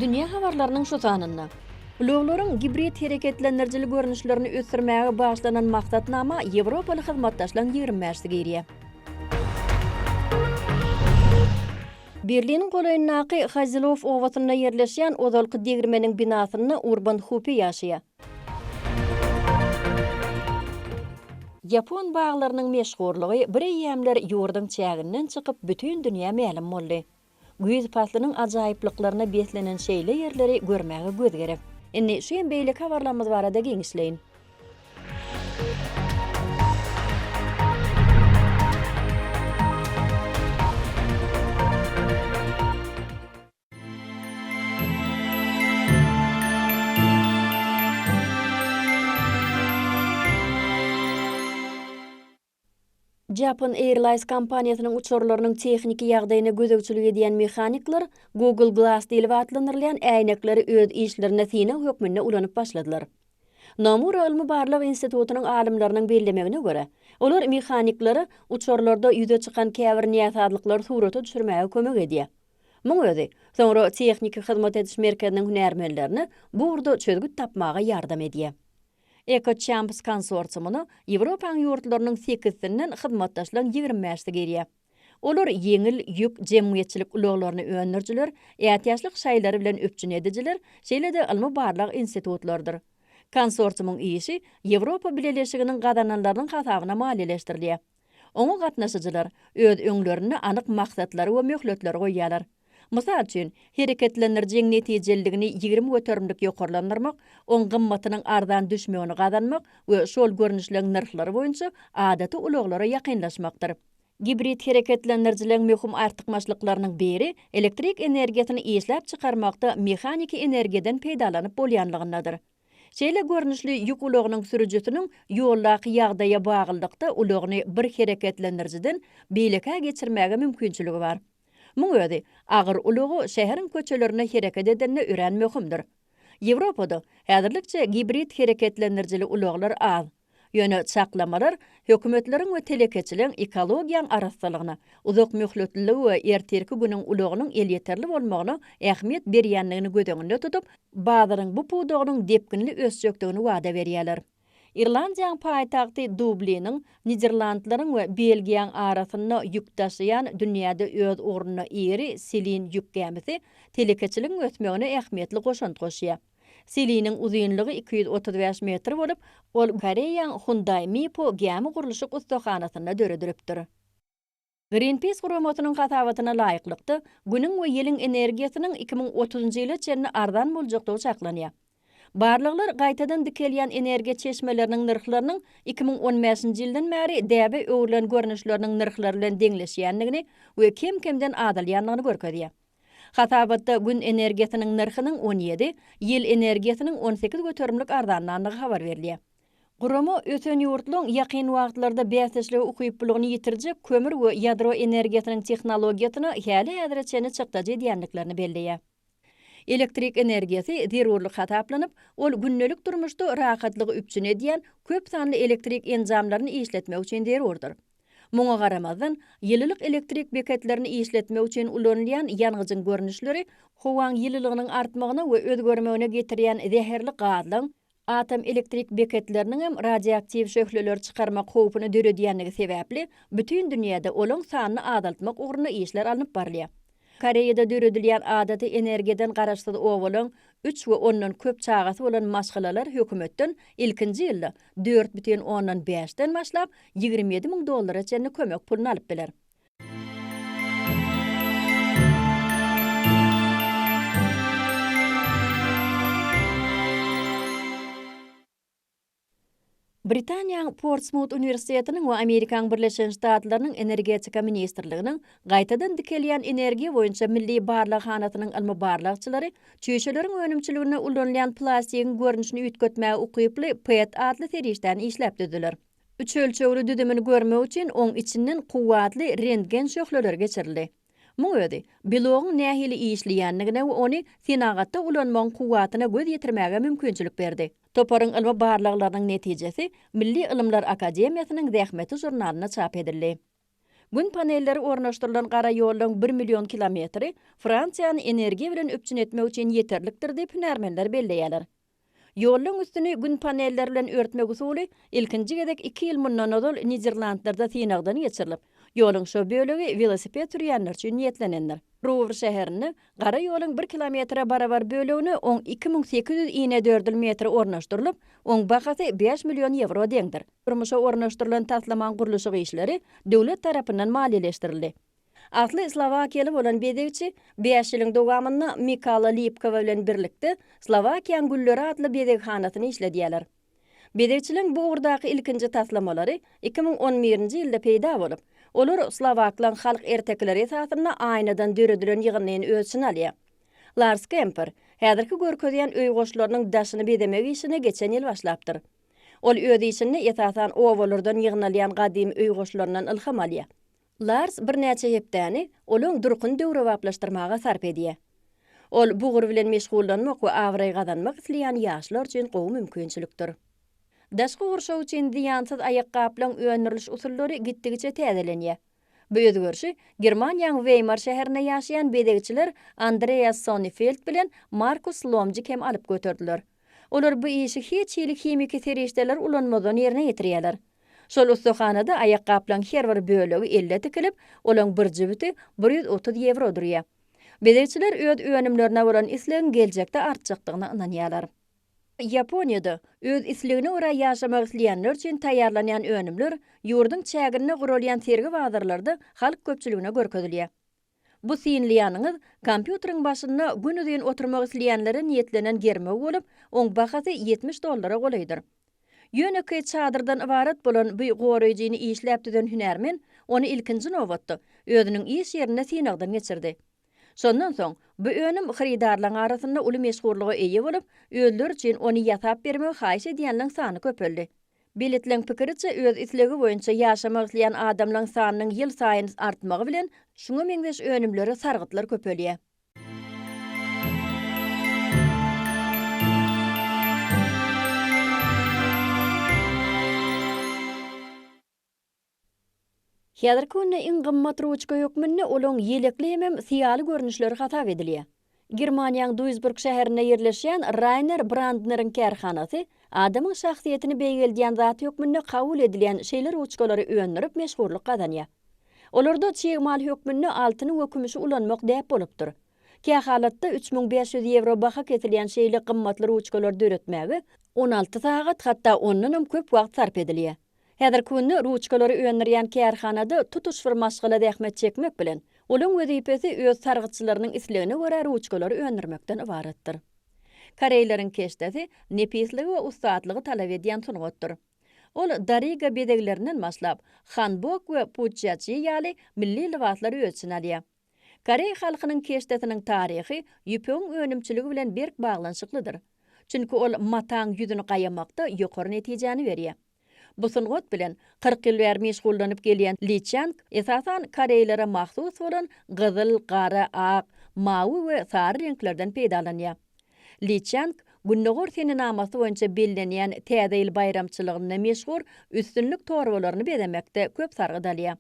Dünýä habarlarynyň şu sanynda. Ulaglaryň gibrid hereketlendirijili görnüşlerini ösdürmäge bagyşlanan maksatnama ýewropaly hyzmatdaşlaryň ýigrimi bäşisi girýär. Berliniň golaýyndaky Hazelow obasynda ýerleşýän ozalky degirmeniň binasynda Urban Hupe ýaşaýar. Ýapon baglarynyň meşhurlygy bir eýýämler ýurduň çäginden çykyp, bütin dünýä mälim boldy. Güýz paslynyň ajaýyplyklaryna beslenen şeýle ýerleri görmäge göz gerek. Indi şu hem beýleki habarlarymyz barada giňişleýin. Japan Airlines kompaniýasynyň uçarlarynyň tehniki ýagdaýyna gözegçilik edýän mehanikler Google Glass diýlip atlandyrylýan äýnekleri öz işlerinde synag hökmünde ulanyp başladylar. Nomura ylmy-barlag institutynyň alymlarynyň bellemegine görä, olar mehaniklere uçarlarda ýüze çykan käbir näsazlyklary surata düşürmäge kömek edýär. Muň özi, soňra tehniki hyzmat ediş merkeziniň hünärmenlerine bu ugurda çözgüt tapmaga ýardam edýär. EcoChamps konsorsiumyna Ýewropanyň ýurtlarynyň sekizisinden hyzmatdaşlaryň ýigrimi bäşisi girýär. Olar ýeňil ýük jemgyýetçilik ulaglaryny öndürijiler, ätiýaçlyk şaýlary bilen üpjün edijiler, şeýle-de ylmy-barlag institutlarydyr. Konsorsiumyň işi Ýewropa Bileleşiginiň gazananlarynyň hasabyna maliýeleşdirilýär. Oňa gatnaşyjylar öz öňlerinde anyk maksatlary we möhletleri goýýarlar. Mysal üçin, hereketlendirijiň netijeliligini ýigrimi göterimlik ýokarlandyrmak, oň gymmatynyň arzan düşmegini gazanmak we şol görnüşleň nyrhlary boýunça adaty ulaglara ýakynlaşmakdyr. Gibrid hereketlendirijileriň möhüm artykmaçlyklarynyň biri elektrik energiýasyny işläp çykarmakda mehaniki energiýadan peýdalanyp bolýanlygyndadyr. Şeýle görnüşli ýük ulagynyň sürüjisiniň ýoldaky ýagdaýa baglylykda ulagyny bir hereketlendirijiden beýlekä geçirmäge mümkinçiligi bar. Muň özi, agyr ulagy şäheriň köçelerinde hereket edende örän möhümdir. Ýewropada häzirlikçe gibrid hereketlendirijili ulaglar az. Ýöne çaklamalar hökümetleriň we telekeçiligiň ekologiýaň arassalygyna, uzakmöhletliligi we ertirki günüň ulagynyň elýeterli bolmagyna ähmiýet berýändigini göz öňünde tutup, bazaryň bu pudagynyň depginli ösjekdigini wada berýärler. Irlandiýaň paýtagty Dubliniň, Niderlandlaryň we Belgiýaň arasynda ýük daşaýan dünýäde öz ugrunda iri Selin ýük gämisi telekeçiligiň ösmegine ähmiýetli goşant goşýar. Siliniň uzynlygy iki ýüz otuz bäş metr bolup, ol Koreýaň Hyundai Mipo gämi gurluşyk ussahanasynda döredilipdir. Greenpeace guramasynyň hasabatyna laýyklykda, Günüň we ýeliň energiýasynyň iki müň otuzynjy ýyla çenli arzan boljakdygy çaklanýar. Barlaglar gaýtadan dikelýän energiýa çeşmeleriniň nyrhlarynyň iki müň on bäşinji ýyldan bäri däbe öwrülen görnüşleriniň nyrhlary bilen deňleşýändigini we kem-kemden azalýandygyny görkezýär. Hasabatda gün energiýasynyň nyrhynyň on ýedi, ýel energiýasynyň on sekiz göterimlik arzanlandygy habar berilýär. Gurama ösen ýurtlaryň ýakyn wagtlarda bäsdeşlige ukyplylygyny ýitirjek kömür we ýadro energiýasynyň tehnologiýasyna häli-häzire çenli çykdajy edýändiklerini belleýär. Elektrik energiýasy zerurlyk hasaplanyp, ol gündelik durmuşda rahatlygy üpjün edýän köp sanly elektrik enjamlaryny işletmek üçin zerurdyr. Muňa garamazdan, ýylylyk elektrik beketlerini işletmek üçin ulanylýan ýangyjyň görnüşleri howaň ýylylygynyň artmagyna we özgermegine getirýän zäherli gazlaň, atom elektrik beketleriniň hem radioaktiw şöhleleri çykarmak howpuny döredýändigi sebäpli, bütin dünýäde olaň sanyny azaltmak ugrunda işler alnyp barylýar. Koreýada döredilýän adaty energiýadan garaşsyz obalaň üç we ondan köp çagasy bolan maşgalalar hökümetden ilkinji ýylda dört bütin ondan bäş den başlap ýigrimi ýedi müň dollara çenli kömek puluny alyp biler. Britaniýaň Portsmut uniwersitetiniň we Amerikaň Birleşen Ştatlarynyň Energetika ministrliginiň Gaýtadan dikelýän energiýa boýunça milli barlaghanasynyň ylmy-barlagçylary çüýşeleriň önümçiliginde ulanylýan plastigiň görnüşini üýtgetmäge ukyply PET atly serişdäni işläp düzdüler. Üç ölçegli düzümini görmek üçin oň içinden kuwwatly rentgen şöhleleri geçirildi. Muň özi, belogyň nähili işleýändigine we ony senagatda ulanmagyň kuwwatyna göz ýetirmäge mümkinçilik berdi. Toparyň ylmy barlaglarynyň netijesi Milli ylymlar akademiýasynyň zähmeti žurnalynda çap edildi. Gün panelleri ornaşdyrylan gara ýollaryň bir million kilometri Fransiýany energiýa bilen üpjün etmek üçin ýeterlikdir diýip hünärmenler belleýärler. Ýollaryň üstüni Gün panelleri bilen örtmek usuly ilkinji gezek iki ýyl mundan ozal Niderlandlarda synagdan geçirilip, ýoluň şo bölegi welosiped sürýänler üçin niýetlenendir. Ruwr şäherinde gara ýoluň bir kilometre barabar bölegine oň iki müň sekiz ýüz inedördül metri ornaşdyrylyp, oň bahasy bäş million ýewro deňdir. Durmuşa ornaşdyrylan taslamaň gurluşyk işleri döwlet tarapyndan maliýeleşdirildi. Asly slowakiýaly bolan bezegçi bäş ýylyň dowamynda Mikala Lipkowa bilen birlikde Slowakiýaň gülleri atly bezeghanasyny işledýärler. Bezegçiligiň bu ugurdaky ilkinji taslamalary iki müň on birinji ýylda peýda bolup, olar slowaklaň halk ertekileri esasynda aýnadan döredilen ýygyndyny öz içine alýar. Lars Kemper häzirki görkezýän öý goşlarynyň daşyny bezemek işine geçen ýyl başlapdyr. Ol öz işinde esasan obalardan ýygnalýan gadymy öý goşlaryndan ylham alýar. Lars birnäçe hepdäni olaň durkuny döwrebaplaşdyrmaga sarp edýär. Ol bu ugur bilen meşgullanmak we abraý gazanmak isleýän ýaşlar üçin gowy mümkinçilikdir. Daşky gurşaw üçin zyýansyz aýakgaplaryň öndüriliş usullary gitdigiçe täzelenýär. Bu özgerişi Germaniýaň Weýmar şäherinde ýaşaýan bezegçiler Andreas Sonnefeldt bilen Markus Lomjik hem alyp göterdiler. Olar bu işi hiç hili himiki serişdeler ulanmazdan ýerine ýetirýärler. Şol ussahanada aýakgaplaň her bir bölegi elle tikilip, olaň bir jübüti bir ýüz otuz ýewro durýar. Bezegçiler öz önümlerine bolan islegiň geljekde artjakdygyna ynanýarlar. Ýaponiýada öz islegine görä ýaşamak isleýänler üçin taýýarlanýan önümler ýurduň çäginde guralýan sergi-bazarlarda halk köpçüligine görkezilýär. Bu synlaýanyňyz kompýuteriň başynda günuzyn oturmak isleýänlere niýetlenen germew bolup, oň bahasy ýetmiş dollara golaýdyr. Ýönekeý çadyrdan ybarat bolan bu goraýjyny işläp düzen hünärmen ony ilkinji nobatda özüniň iş ýerinde synagdan geçirdi. Şondan soň, bu önüm hyrydarlaň arasynda uly meşhurlyga eýe bolup, özleri üçin ony ýasap bermegi haýyş edýänleň sany köpeldi. Belitleň pikiriçe, öz islegi boýunça ýaşamak isleýän adamlaň sanynyň ýylsaýyn artmagy bilen, şuňa meňzeş önümlere sargytlar köpelýär. Häzirki günde iň gymmat ruçka hökmünde olaň ýelekli hemem syýaly görnüşleri hasap edilýär. Germaniýaň Duisburg şäherinde ýerleşýän Rainer Brandneriň kärhanasy adamyň şahsyýetini beýgeldýän zat hökmünde kabul edilýän şeýle ruçkalary öndürip meşhurlyk gazanýar. Olarda çig mal hökmünde altyny we kümüşi ulanmak däp bolupdyr. Kähalatda üç müň bäş ýüz ýewro baha kesilýän şeýle gymmatly ruçkalary döretmäge on alty sagat, hatda ondanam köp wagt sarp edilýär. Häzirki günde ruçkalary öndürýän kärhanada tutuş bir maşgala zähmet çekmek bilen, olaryň wezipesi öz sargytçylarynyň islegine görä ruçkalary öndürmekden ybaratdyr. Koreýleriň keşdesi nepisligi we ussatlygy talap edýän sungatdyr. Ol dariga bezeglerinden başlap, hanbok we puçjaçi ýaly milli lybaslar öz içine alýar. Koreý halkynyň keşdesiniň taryhy ýüpegiň önümçiligi bilen berk baglanyşyklydyr. Çünki ol mataň ýüzüni gaýamakda ýokary netijäni berýär. Bu sungat bilen kyrk ýyl bäri meşgullanyp gelýän Li Çýang esasan koreýlere mahsus bolan gyzyl, gara, ak, mawy we sary reňklerden peýdalanýar. Li Çýang Gündogar senenamasy boýunça bellenýän Täze ýyl baýramçylygynda meşhur üstünlik torbalaryny bezemekde köp sargyt alýar.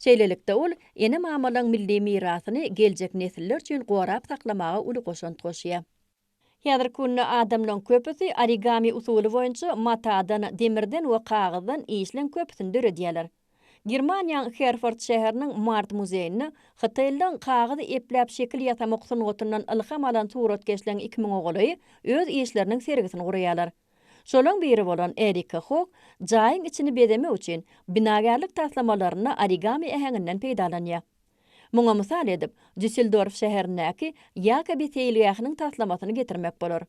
Şeýlelikde, ol ene-mamalaň milli mirasyny geljek nesiller üçin gorap saklamaga uly goşant goşýar. Häzirki günde adamlaryň köpüsi origami usuly boýunça matadan, demirden we kagyzdan işleň köpüsini döredýärler. Germaniýaň Herford şäheriniň Mart muzeýinde hytaýlylaryň kagyzy epläp şekil ýasamak sungatyndan ylham alan suratkeşleriň iki müňe golaýy öz işleriniň sergisini guraýarlar. Şolaň biri bolan Erika Hok jaýyň içini bezemek üçin binagärlik taslamalarynda origami äheňinden peýdalanýar. Muňa mysal edip, Dýusseldorf şäherindäki Ýakobi seýilgähiniň taslamasyny getirmek bolar.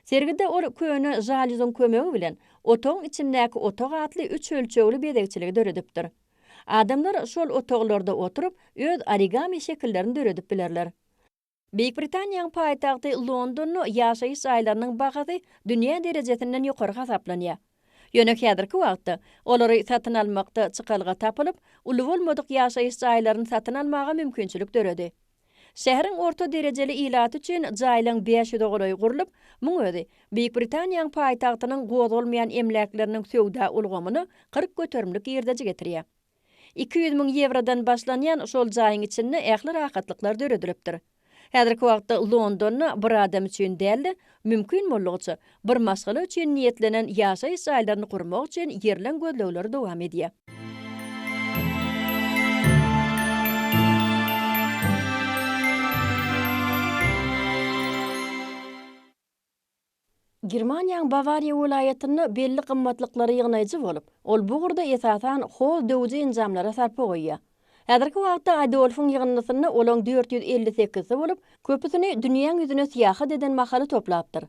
Sergide ol köne žalýuzyň kömegi bilen Otagyň içindäki otag atly üç ölçegli bezegçiligi döredipdir. Adamlar şol otaglarda oturyp, öz origami şekillerini döredip bilerler. Beýik Britaniýanyň paýtagty Londonda ýaşaýyş jaýlarynyň bahasy dünýä derejesinden ýokary hasaplanýar. Ýöne häzirki wagtda olary satyn almakda çykalga tapylyp, uly bolmadyk ýaşaýyş jaýlaryny satyn almaga mümkinçilik döredi. Şäheriň orta derejeli ilaty üçin jaýlaryň bäş ýüze golaýy gurlup, muň özi Beýik Britaniýanyň paýtagtynyň gozgalmaýan emläkleriniň söwda ulgamyna kyrk göterimlik girdeji getirýär. Iki ýüz müň ýewrodan başlanýan şol jaýyň içinde ähli rahatlyklar döredilipdir. Häzirki wagtda Londonda bir adam üçin däl-de, mümkin boldugyça, bir maşgala üçin niýetlenen ýaşaýyş jaýlaryny gurmak üçin ýerleň gözlegleri dowam edýär. Germaniýaň Bawariýa welaýatynda belli gymmatlyklary ýygnaýjy bolup, ol bu ugurda esasan hol döwüji enjamlara sarpa goýýar. Häzirki wagtda Adolfyň ýygyndysynda olaň dört ýüz elli sekizsi bolup, köpüsini dünýäň ýüzüne syýahat eden mahaly toplapdyr.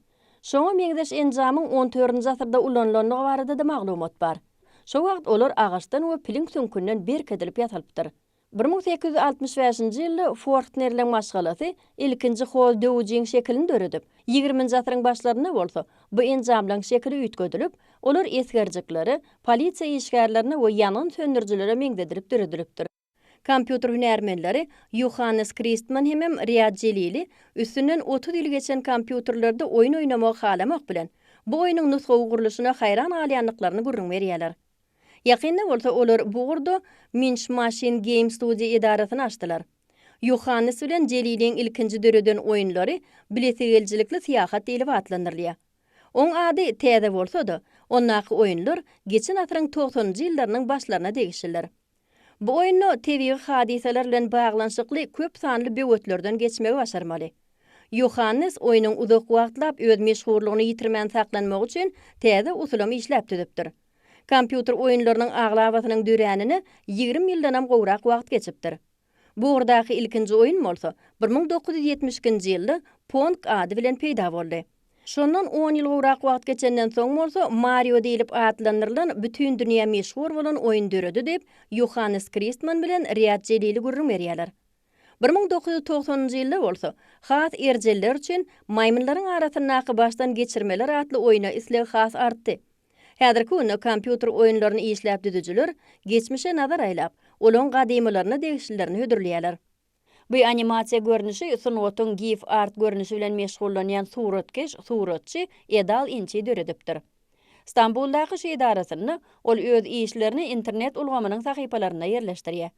Şoňa meňzeş enjamyň on törünji asyrda ulanylandygy barada-da maglumat bar. Şo wagt olar agaçdan we piliň süňkünden berk edilip ýasalypdyr. Bir müň sekiz ýüz altmyş bäşinji ýylda Fortnerleň maşgalasy ilkinji hoz döwüjiň şekilini döredip, ýigriminji asyryň başlarynda bolsa bu enjamlaň şekili üýtgedilip, olar esgerjiklere, polisiýa işgärlerine we ýangyn söndürijilere meňzedilip döredilipdir. Kompýuter hünärmenleri Ýohannes Kristman hemem Riad Jelili üstünden otuz ýyl geçen kompýuterlerde oýun oýnamagy halamok bilen, bu oýnuň nusgawy gurluşyna haýran galýandyklaryny gürrüň berýärler. Ýakynda bolsa olar bu ugurda Minch Machine Game Studio edarasyny açdylar. Ýohannes bilen Jeliliň ilkinji döreden oýunlary Bilesigelijilikli syýahat diýlip atlandyrylýar. Oň ady täze bolsa-da, ondaky oýunlar geçen asyryň togsanynjy ýyllarynyň başlaryna degişlidir. Bu oýunda tebigy hadysalar bilen baglanyşykly köp sanly böwetlerden geçmegi başarmaly. Ýohannes oýnuň uzak wagtlap öz meşhurlygyny ýitirmän saklanmagy üçin täze usulam işläp düzüpdir. Kompýuter oýunlarynyň aglabasynyň döränine ýigrimi ýyldanam gowrak wagt geçipdir. Bu ugurdaky ilkinji oýun bolsa bir müň dokuz ýüz ýetmiş ikinji ýylda Pong ady bilen peýda boldy. Şondan on ýyl gowrak wagt geçenden soň bolsa Mario diýlip atlandyrylan bütin dünýä meşhur bolan oýun döredi diýip, Ýohannes Kristman bilen Riýad Jelili gürrüň berýärler. Bir müň dokuz ýüz togsanynjy ýylda bolsa, has erjeller üçin Maýmynlaryň arasyndaky başdan geçirmeler atly oýna isleg has artdy. Häzirki günde kompýuter oýunlaryny işläp düzüjiler geçmişe nazar aýlap, olaryň gadymylaryna degişlilerini hödürleýärler. Bu animasiýa görnüşi sungatyň gif art görnüşi bilen meşgullanýan suratkeş, suratçy Edal Inçi döredipdir. Stambuldaky şu edarasynda ol öz işlerini internet ulgamynyň sahypalarynda ýerleşdirýär.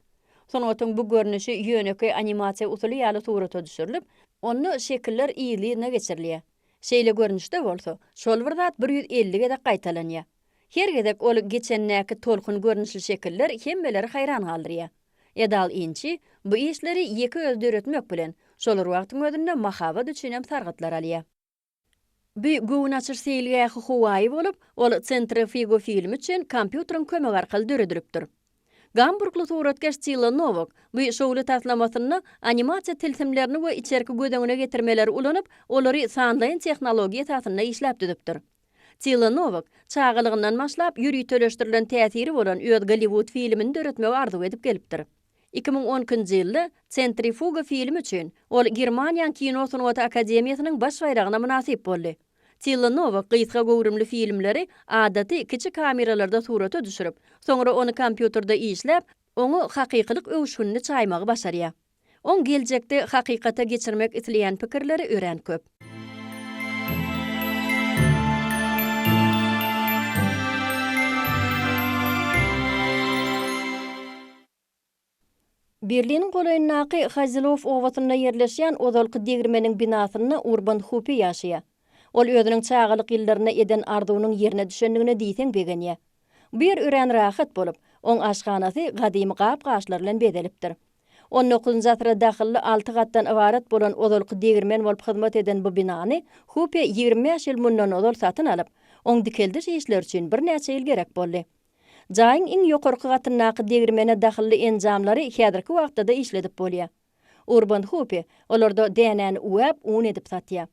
Sungatyň bu görnüşi ýönekeý animasiýa usuly ýaly surata düşürilip, onda şekiller yzly-yzyna geçirilýär. Şeýle görnüşde bolsa, şol bir zat bir ýüz elli gezek gaýtalanýar. Her gezek ol geçendäki tolkun görnüşli şekiller hemmeleri haýran galdyrýar. Edal Inçi bu işleri ýeke özi döretmek bilen, şol bir wagtyň özünde mahabat üçinem sargytlar alýar. Bu göwün açyş seýilgähi howaýy bolup, ol Centre Figu filmi üçin kompýuteriň kömegi arkaly döredilipdir. Gamburgly suratkeş Cilla Nowak bu şowly taslamasynda animasiýa tilsimlerini we içerki göz öňüne getirmeleri ulanyp, olary sanlaýyn tehnologiýa esasynda işläp düzüpdir. Tilla Nowak çagalygyndan başlap ýöriteleşdirilen täsiri bolan öz Golliwud filmini döretmegi arzuw edip gelipdir. Iki müň on ikinji ýylda Sentrifuga filmi üçin ol Germaniýaň Kino sungaty akademiýasynyň baş baýragyna mynasyp boldy. Tilla Nowak gysga göwrümli filmleri adaty kiçi kameralarda surata düşürip, soňra ony kompýuterde işläp, oňa hakykylyk öwüşginini çaýmagy başarýar. Oň geljekde hakykata geçirmek isleýän pikirleri örän köp. Berliniň golaýyndaky Hazelow obasynda ýerleşýän ozalky degirmeniň binasynda Urban Hupe ýaşaýar. Ol özüniň çagalyk ýyllarynda eden arzuwynyň ýerine düşendigine diýseň begenýär. Bu ýer örän rahat bolup, oň aşhanasy gadymy gap-gaçlar bilen bezelipdir. On dokuzynjy asyra dahylly alty gatdan ybarat bolan ozalky degirmen bolup hyzmat eden bu binany Hupe ýigrimi bäş ýyl mundan ozal satyn alyp, oň dikeldiş işleri üçin birnäçe ýyl gerek boldy. Jaýyň iň ýokarky gatyndaky degirmene dahylly enjamlary häzirki wagtda-da işledip bolýar. Urban Hupi olarda dänäni üwäp, un edip satýar.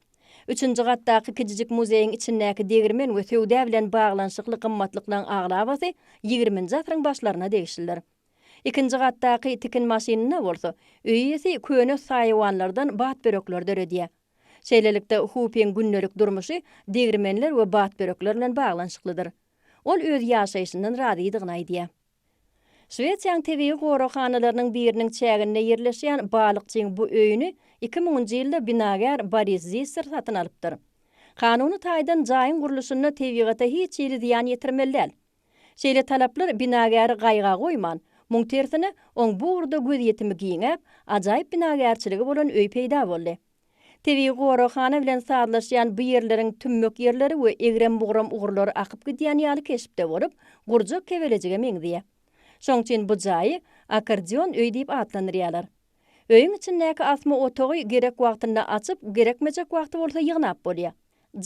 Üçünji gatdaky kijijik muzeýiň içindäki degirmen we söwda bilen baglanyşykly gymmatlyklaryň aglabasy ýigriminji asyryň başlaryna degişlidir. Ikinji gatdaky tikin maşynynda bolsa, öý iýesi köne saýawanlardan batbörekler döredýär. Şeýlelikde, Hupiň gündelik durmuşy degirmenler we batbörekler bilen baglanyşyklydyr. Ol öz ýaşaýşyndan razydygyny aýdýar. Şwesiýanyň tebigy goraghanalarynyň biriniň çäginde ýerleşýän balykçyň bu öýüni iki müňünji ýylda binagär Boris Zisser satyn alypdyr. Kanuny taýdan jaýyň gurluşynda tebigata hiç hili zyýan ýetirmeli däl. Şeýle talaplar binagäri gaýga goýman, muň tersine, oň bu ugurda gözýetimi giňäp, ajaýyp binagärçiligi bolan öý peýda boldy. Tebigy goraghana bilen sazlaşýan bu ýerleriň tümmek ýerleri we egrem-bugram ugurlary akyp gidýän ýaly keşpde bolup, gurjak kebelejige meňzeýär. Şoň üçin bu jaýy Akkordeon öý diýip atlandyrýarlar. Öýüň içindäki asma otagy gerek wagtynda açyp, gerekmejek wagty bolsa ýygnap bolýar.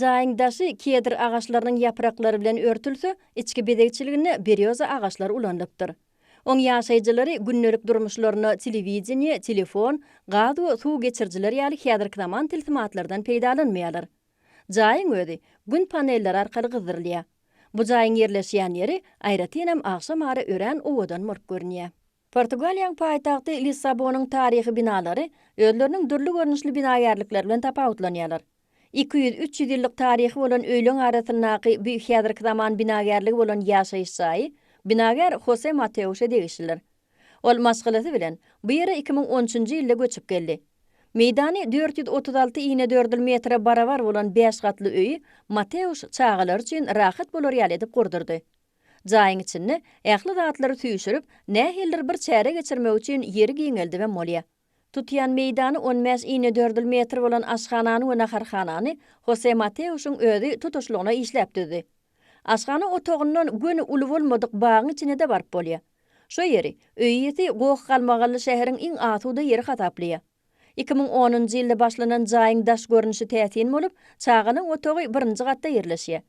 Jaýyň daşy kedr agaçlarynyň ýapraklary bilen örtülse, içki bezegçiliginde berýoza agaçlary ulanylypdyr. Oň ýaşaýjylary gündelik durmuşlarynda telewideniýe, telefon, gaz we suw geçirijiler ýaly häzirki zaman tilsimatlardan peýdalanmaýarlar. Jaýyň özi Gün panelleri arkaly gyzdyrylýar. Bu jaýyň ýerleşýän ýeri aýratynam agşam ara örän owadan bolup görünýär. Portugaliýaň paýtagty Lissabonyň taryhy binalary özleriniň dürli görnüşli binagärlikleri bilen tapawutlanýarlar. Iki ýüz, üç ýüz ýyllyk taryhy bolan öýleň arasyndaky bu häzirki zaman binagärligi bolan ýaşaýyş jaýy binagär Hose Mateuşa degişlidir. Ol maşgalasy bilen bu ýere iki müň on üçünji ýylda göçüp geldi. Meýdany dört ýüz otuz alty inedördül metre barabar bolan bäş gatly öýi Mateuş çagalary üçin rahat bolar ýaly edip gurdurdy. Jaýyň içinde ähli zatlary süýşürip, nähilidir bir çäre geçirmek üçin ýeri giňeldibem bolýar. Tutýan meýdany on bäş inedördül metr bolan aşhanany we naharhanany Hose Mateuşyň özi tutuşlygyna işläp düzdi. Aşhana otagyndan göni uly bolmadyk bagyň içine-de baryp bolýar. Şo ýeri, öý iýesi Goh galmagally şäheriň iň asuda ýeri hasaplaýar. Iki müň onunjy ýylda başlanan jaýyň daş görnüşi täsin bolup, çagalaň otagy birinji gatda ýerleşýär.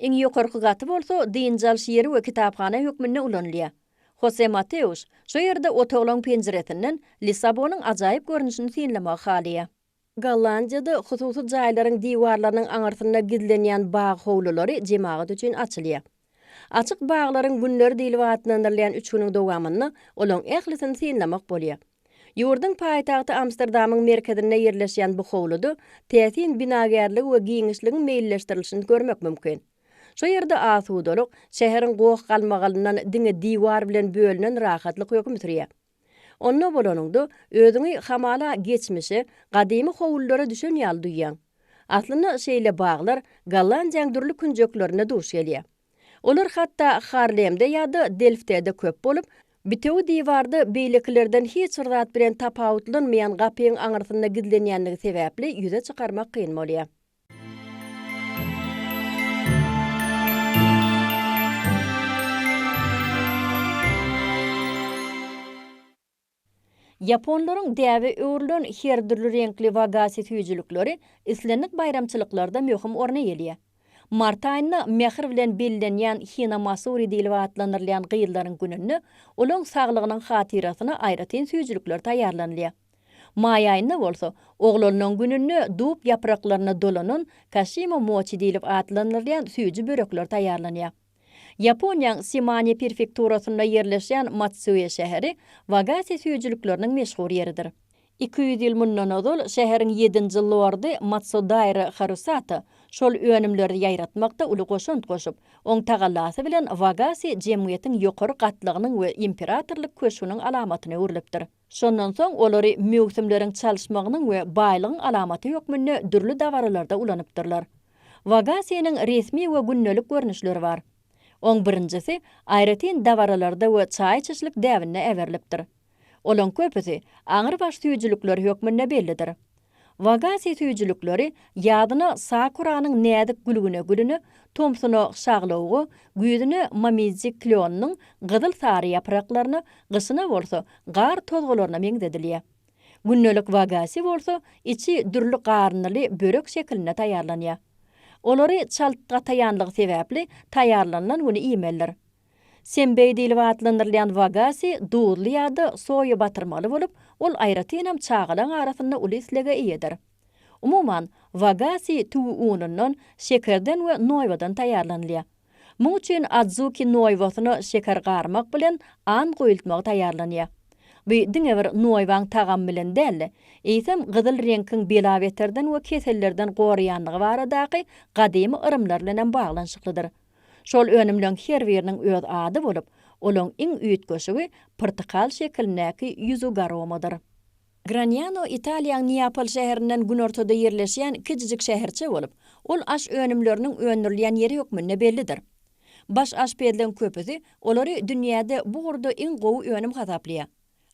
Iň ýokarky gaty bolsa dynç alyş ýeri we kitaphana hökmünde ulanylýar. Hose Mateus şu ýerde otaglaň penjiresinden Lissabonyň ajaýyp görnüşini synlamagy halaýar. Gollandiýada hususy jaýlaryň diwarlarynyň aňyrsynda gizlenýän bag howlulary jemagat üçin açylýar. Açyk baglaryň günleri diýlip atlandyrylýan üç günüň dowamynda olaň ählisini synlamak bolýar. Ýurduň paýtagty Amsterdamyň merkezinde ýerleşýän bu howluda täsin binagärligi we giňişligiň meýilleşdirilişini görmek mümkin. Şu ýerde asudalyk, şäheriň goh-galmagalyndan diňe diwar bilen bölünen rahatlyk höküm sürýär. Onda bolanyňda, özüňi hamala geçmişe, gadymy howlulara düşen ýaly duýýaň. Aslynda şeýle baglar Gollandiýaň dürli künjeklerinde duş gelýär. Olar hatda Harlemde ýa-da Delftede köp bolup, bitewi diwarda beýlekilerden hiç bir zat bilen tapawutlanmaýan gapyň aňyrsynda gizlenýändigi sebäpli ýüze çykarmak kyn bolýar. Ýaponlaryň däbe öwrülen her dürli reňkli wagasi süýjülikleri islendik baýramçylyklarda möhüm orun eýeleýär. Mart aýynda mähir bilen bellenýän Hina Masuri diýlip atlandyrylýan gyzlaryň gününde olaryň saglygynyň hatyrasyna aýratyn süýjülikler taýýarlanylýar. Maý aýynda bolsa, oglalynan gününde dub ýapraklaryna dolanan kaşimo moçi diýlip atlandyrylýan süýji börekler taýýarlanýar. Ýaponiýaň Simane perfekturasynda ýerleşýän Matsuye şäheri Wagase süýjülikleriniň meşhur ýeridir. Iki ýüz ýyl mundan ozal şäheriň ýedinji lordy Matsudaira Harusata şol önümleri ýaýratmakda uly goşant goşup, oň tagallasy bilen Wagase jemgyýetiň ýokary gatlagynyň we imperatorlyk köşgüniň alamatyna öwrülipdir. Şondan soň olary möwsümleriň çalyşmagynyň we baýlygyň alamaty hökmünde dürli dabaralarda ulanypdyrlar. Wagasiýanyň resmi we gündelik görnüşleri bar. Oň birinjisi aýratyn dabaralarda we çaý içişlik däbinde äberilipdir. Olaň köpüsi aňrybaş süýjülikleri hökmünde bellidir. Wagase süýjülikleri ýazyna sakuranyň näzik gülgüne gülüni, tomsuna şaglawugy, güýzüne momiji klýonynyň gyzyl-sary ýapraklaryna, gyşyna bolsa gar tozgalaryna meňzedilýär. Gündelik wagase bolsa içi dürli garyndyly börek şekilinde taýýarlanýar. Olary çalt gataýanlygy sebäpli taýýarlanylan güni iýmelidir. Senbei diýlip atlandyrylýan wagasi duzly ýa-da soýa batyrmaly bolup, ol aýratynam çagalaň arasynda uly islege eýedir. Umuman, wagasi tüwi unundan, şekerden we noýbadan taýýarlanylýar. Muň üçin adzuki noýbasyna şeker garmak bilen an guýultmagy taýýarlanýar. Bu diňe bir noýbaň tagamy bilen däl-de, eýsem gyzyl reňkiň belabeterden we kesellerden goraýandygy baradaky gadymy yrymlar bilen hem baglanyşyklydyr. Şol önümleň her biriniň öz ady bolup, olaň iň üýtgeşigi pyrtykal şekilindäki ýüzi garomadyr. Graniano Italiýaň Neapol şäherinden günortada ýerleşýän kiçijik şäherçe bolup, ol aş önümleriniň öndürilýän ýeri hökmünde bellidir. Baş aşpezleň köpüsi olary dünýäde bu ugurda iň gowy önüm hasaplaýar.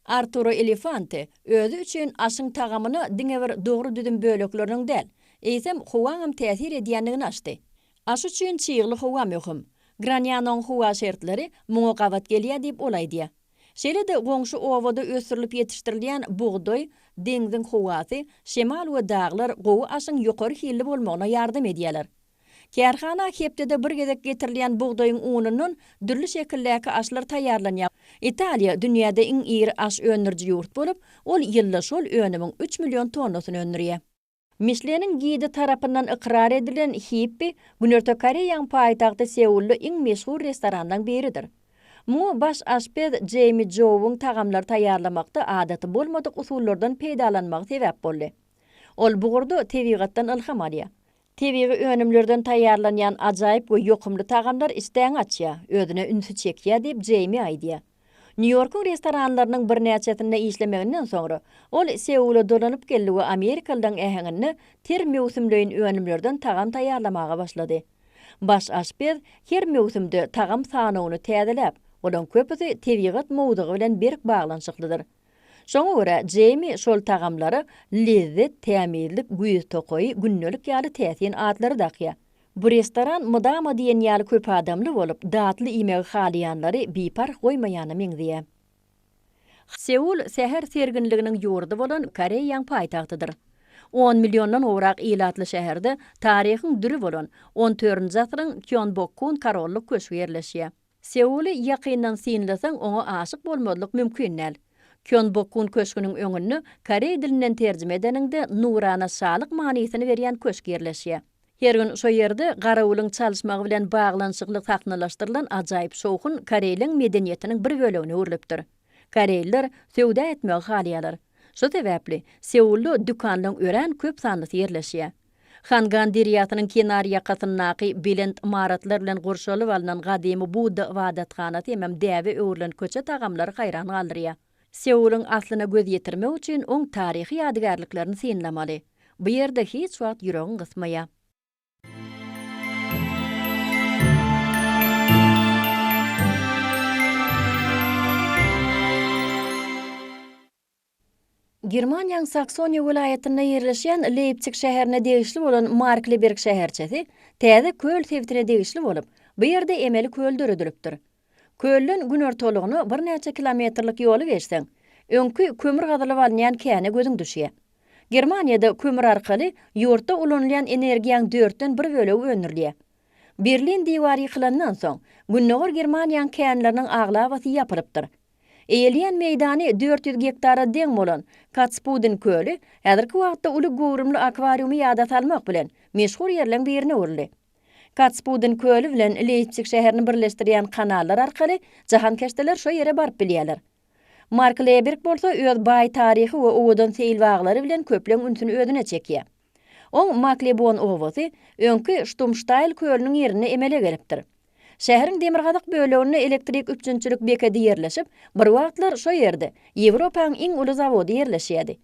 Arturo Elefante özi üçin aşyň tagamyna diňe bir dogry düzüm bölekleriniň däl, eýsem, howaňam täsir edýändigini açdy. Aş üçin çygly howa möhüm. Granýanyň howa şertleri muňa gabat gelýär diýip ol aýdýar. Şeýle-de goňşy obada ösdürilip ýetişdirilýän bugdaý, deňziň howasy, şemal we daglar gowy aşyň ýokary hilli bolmagyna ýardam edýärler. Kärhana hepdede bir gezek getirilýän bugdaýyň unundan dürli şekildäki aşlar taýýarlanýar. Italiýa dünýäde iň iri aş öndüriji ýurt bolup, ol ýylda şol önümiň üç million tonnasyny öndürýär. Mişleniň gidi tarapyndan ykrar edilen Hippi Günorta Koreýaň paýtagty Seulda iň meşhur restoranlaň biridir. Muňa baş aşpez Jeými Jouwyň tagamlary taýýarlamakda adaty bolmadyk usullardan peýdalanmagy sebäp boldy. Ol bu ugurda tebigatdan ylham alýar. Tebigy önümlerden taýýarlanýan ajaýyp we ýokumly tagamlar işdäňi açýar, özüne ünsi çekýär diýip Jeými aýdýar. Nýu-Ýorkuň restoranlarynyň birnäçesinde işlemeginden soňra, ol Seula dolanyp geldi we amerikalylaryň äheňinde ter möwsümleýin önümlerden tagam taýýarlamaga başlady. Baş aşpez her möwsümde tagam sanawyny täzeläp, olaryň köpüsi tebigat mowzugy bilen berk baglanyşyklydyr. Şoňa görä, Jeými şol tagamlara Lezzet, Tämizlik, Güýz tokaýy, Gündelik ýaly täsin atlary dakýar. Bu restoran mydama diýen ýaly köp adamly bolup, datly iýmegi halaýanlary biparh goýmaýana meňzeýär. Seul säher serginliginiň ýurdy bolan Koreýaň paýtagtydyr. On milliondan gowrak ilatly şäherde taryhyň düri bolan, on dördünji asyryň Kýonbokgun korollyk köşgi ýerleşýär. Seuly ýakyndan synlasaň, oňa aşyk bolmazlyk mümkin däl. Kýonbokgun köşgüniň öňünde, koreý dilinden terjime edeniňde, nurana şalyk manysyny berýän köşk ýerleşýär. Her gün şo ýerde garawulyň çalyşmagy bilen baglanyşykly sahnalaşdyrylan ajaýyp şowhun koreýleň medeniýetiniň bir bölegine öwrülipdir. Koreýliler söwda etmegi halaýarlar. Şo sebäpli, Seulda dükanlaryň örän köp sanlysy ýerleşýär. Hangan derýasynyň kenarýakasyndaky belent ymaratlar bilen gurşalyp alnan gadymy Budda ybadathanasy hemem däbe öwrülen köçe tagamlary haýran galdyrýar. Seulyň aslyna göz ýetirmek üçin oň taryhy ýadygärliklerini synlamaly. Bu ýerde hiç wagt ýüregiň gysmaýar. Germaniýaň Saksoniýa welaýatynda ýerleşýän Leýpsig şäherine degişli bolan Markliberg şäherçesi täze köl sebitine degişli bolup, bu ýerde emeli köl döredilipdir. Kölden günortalygyna birnäçe kilometrlik ýoly geçseň, öňki kömür gazylyp alynýan käne gözüň düşýär. Germaniýada kömür arkaly ýurtda ulanylýan energiýaň dörtden bir bölegi öndürilýär. Berlin diwary ýykylandan soň, Gündogar Germaniýaň känleriniň aglabasy ýapylypdyr. Eýeleýän meýdany dört ýüz gektara deň bolan Katspudin köli häzirki wagtda uly göwrümli akwariumy ýada salmak bilen, meşhur ýerleň birine öwrüldi. Katspudin köli bilen Leýpsig şäherini birleşdirýän kanallar arkaly jahankeşdeler şo ýere baryp bilýärler. Mark Leberg bolsa öz baý taryhy we owadan seýilbaglary bilen köpleň ünsüni özüne çekýär. Oň Maklebon obasy öňki Ştumştaýl kölüniň ýerinde emele gelipdir. Şäheriň demirgazyk böleginde elektrik üpjünçilik bekedi ýerleşip, bir wagtlar şo ýerde Ýewropanyň iň uly zawody ýerleşýärdi.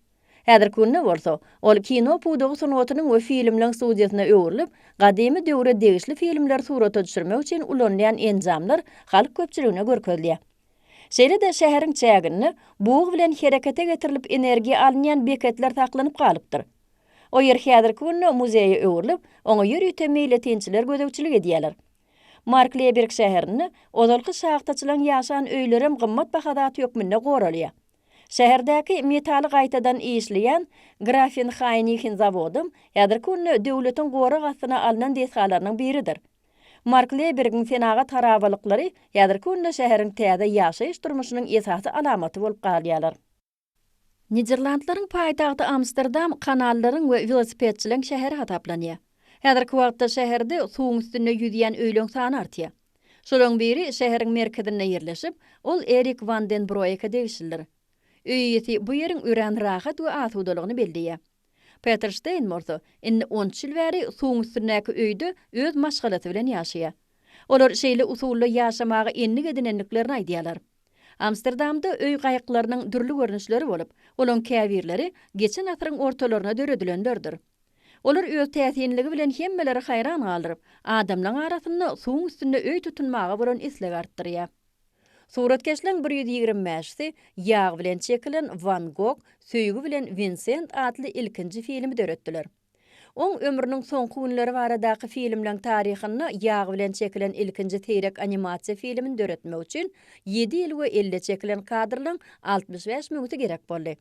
Häzirki günde bolsa, ol kino pudagy sungatynyň we filmleň studiýasyna öwrülip, gadymy döwre degişli filmleri surata düşürmek üçin ulanylýan enjamlar halk köpçüligine görkezilýär. Şeýle-de şäheriň çäginde bug bilen herekete getirilip energiýa alynýan beketler saklanyp galypdyr. O ýer häzirki günde muzeýe öwrülip, oňa ýörite meýletinçiler gözegçilik edýärler. Markleýberg şäherinde ozalky şahtaçylaryň ýaşan öýlerem gymmat baha zat hökmünde goralýar. Şäherdäki metaly gaýtadan işleýän Grafenhaýnihin zawodam häzirki günde döwletiň gorag astyna alnan desgalarynyň biridir. Markleýbergiň senagat harabalyklary häzirki günde şäheriň täze ýaşaýyş durmuşynyň esasy alamaty bolup galýarlar. Niderlandlaryň paýtagty Amsterdam kanallaryň we welosipedçileň şäheri hasaplanýar. Häzirki wagtda şäherde suwuň üstünde ýüzýän öýleň sany artýar. Şolaryň biri şäheriň merkezinde ýerleşip, ol Erik Wan den Broeke degişlidir. Öý eýesi bu ýeriň örän rahat we asudalygyny belleýär. Peter Stein bolsa, indi on üç ýyl bäri suwuň üstündäki öýde öz maşgalasy bilen ýaşaýar. Olar şeýle usulda ýaşamaga endik edinendiklerini aýdýarlar. Amsterdamda öý gaýyklarynyň dürli görnüşleri bolup, olaryň käbirleri geçen asyryň ortalaryna döredilenlerdir. Olar öz täsinligi bilen hemmeleri haýran galdyryp, adamlaryň arasynda suwuň üstünde öý tutunmaga bolan islegi artdyrýar. Suratkeşleriň bir ýüz ýigrimi bäşisi ýag bilen çekilen Wan Gog, Söýgi bilen Winsent atly ilkinji filmi döretdiler. Oň ömrüniň soňky günleri baradaky filmleň taryhynda ýag bilen çekilen ilkinji seýrek animasiýa filmini döretmek üçin ýedi ýyl we elde çekilen kadrlaryň altmyş bäş minüti gerek boldy.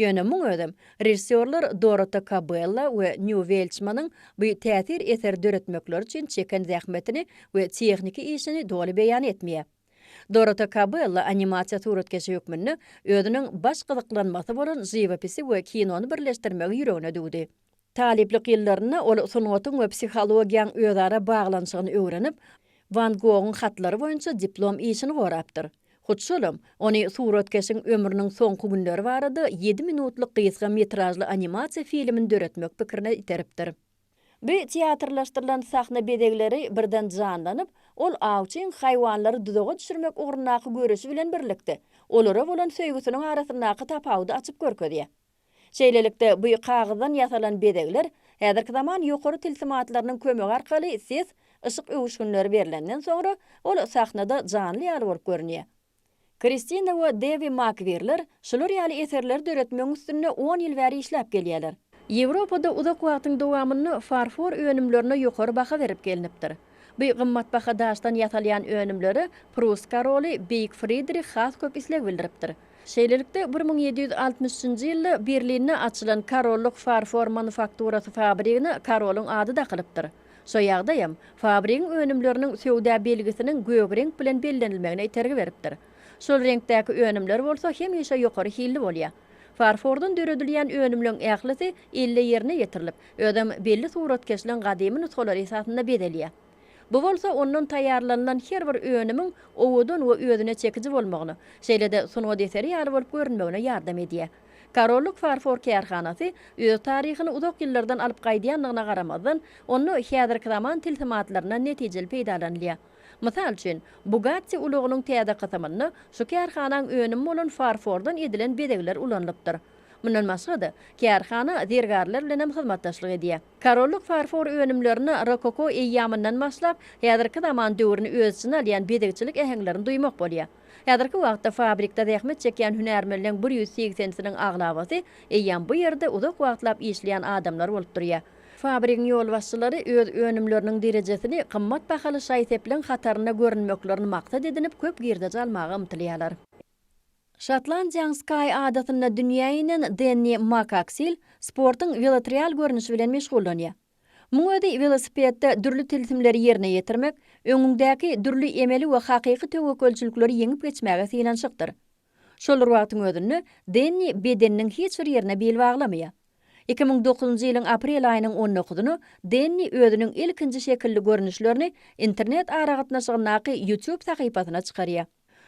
Ýöne muň özem, režissýorlar Dorota Kabella we Nýu Welçmanyň bu täsir eseri döretmekleri üçin çeken zähmetini we tehniki işini doly beýan etmeýär. Dorota Kabella animasiýa suratkeşi hökmünde özüniň baş gyzyklanmasy bolan žiwopisi we kinony birleşdirmegi ýüregine düwdi. Talyplyk ýyllarynda ol sungatyň we psihologiýaň özara baglanyşygyny öwrenip, Wan Gogyň hatlary boýunça diplom işini gorapdyr. Hut şolam, ony suratkeşiň ömrüniň soňky günleri barada ýedi minutlyk gysga metražly animasiýa filmini döretmek pikirine iteripdir. Bi teatrlaşdyrylan sahna bezegleri birden janlanyp, ol awçyň haýwanlary duzaga düşürmek ugrundaky göreşi bilen birlikde, olara bolan söýgüsiniň arasyndaky tapawudy açyp görkezýär. Şeýlelikde, bu kagyzdan ýasalan bezegler häzirki zaman ýokary tilsim atlarynyň kömegi arkaly ses, yşyk öwüşginleri berlenden soňra, ol sahnada janly ýaly bolup görünýär. Kristina we Dewi Makgwirler şular ýaly eserleri döretmegiň üstünde on ýyl bäri işläp gelýärler. Ýewropada uzak wagtyň dowamynda farfor önümlerine ýokary baha berip gelnipdir. Bu gymmatbaha daşdan ýasalýan önümlere prus koroly Beýik Fridrih has köp isleg bildiripdir. Şeýlelikde, bir müň ýedi ýüz altmyş üçünji ýylda Berlinde açylan Korollyk farfor manufakturasy fabrigine korolyň ady dakylypdyr. Şu ýagdaýam fabrigiň önümleriniň söwda belgisiniň gök reňk bilen bellenilmegine itergi beripdir. Şol reňkdäki önümler bolsa hemişe ýokary hilli bolýar. Farfordan döredilýän önümleň ählisi elle ýerine ýetirilip, özem belli suratkeşligiň gadymy nusgalary esasynda bezelýär. Bu bolsa ondan taýýarlanylan her bir önümiň owadan we özüne çekiji bolmagyna, şeýle-de sungat eseri ýaly bolup görünmegine ýardam edýär. Korollyk farfor kärhanasy öz taryhyny uzak ýyllardan alyp gaýdýandygyna garamazdan, onda häzirki zaman tilsimatlaryndan netijeli peýdalanylýar. Mysal üçin, Bugatti ulagynyň täze kysymynda şu kärhanaň önümi bolan farfordan edilen bezegler ulanylypdyr. Mundan başga-da, kärhana zergärler bilen hem hyzmatdaşlyk edýär. Korollyk farfor önümlerinde rokoko eýýamyndan başlap, häzirki zaman döwrüni öz içine alýan bezegçilik äheňlerini duýmak bolýar. Häzirki wagtda fabrikde zähmet çekýän hünärmenleň bir ýüz segsensiniň aglabasy eýýam bu ýerde uzak wagtlap işleýän adamlar bolup durýar. Fabrigiň ýolbaşçylary öz önümleriniň derejesini gymmat bahaly şaý-sepleriň hatarynda görünmeklerini maksat edinip köp girdeji almaga ymtylýarlar. Şotlandiýanyň Skaý adasynda dünýä inen Denni Makaksil sportuň welotrial görnüşi bilen meşgullanýar. Muň özi welosipedde dürli tilsimleri ýerine ýetirmek, öňüňdäki dürli emeli we hakyky töwekgelçilikleri ýeňip geçmäge synanyşykdyr. Şol bir wagtyň özünde Denni bedeniniň hiç bir ýerine bil baglamaýar. Iki müň dokuzynjy ýylyň aprel aýynyň on dokuzyny Denni özüniň ilkinji şekilli görnüşlerini internet aragatnaşygyndaky YouTube sahypasyna çykarýar.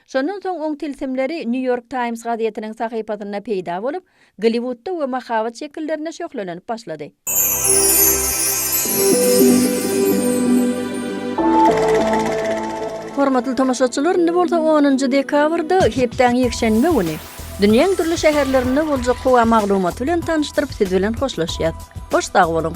Şondan soň oň tilsimleri New York Times gazetiniň sahypasynda peýda bolup, Golliwudda we mahabat şekillerinde şöhlelenip başlady. Hormatly tomaşaçylar, indi bolsa onunjy dekabrda, hepdäň ýekşenbe güni, Dünýäň dürli şäherlerinde boljak howa maglumaty bilen tanyşdyryp siz bilen hoşlaşýas. Hoş sag boluň.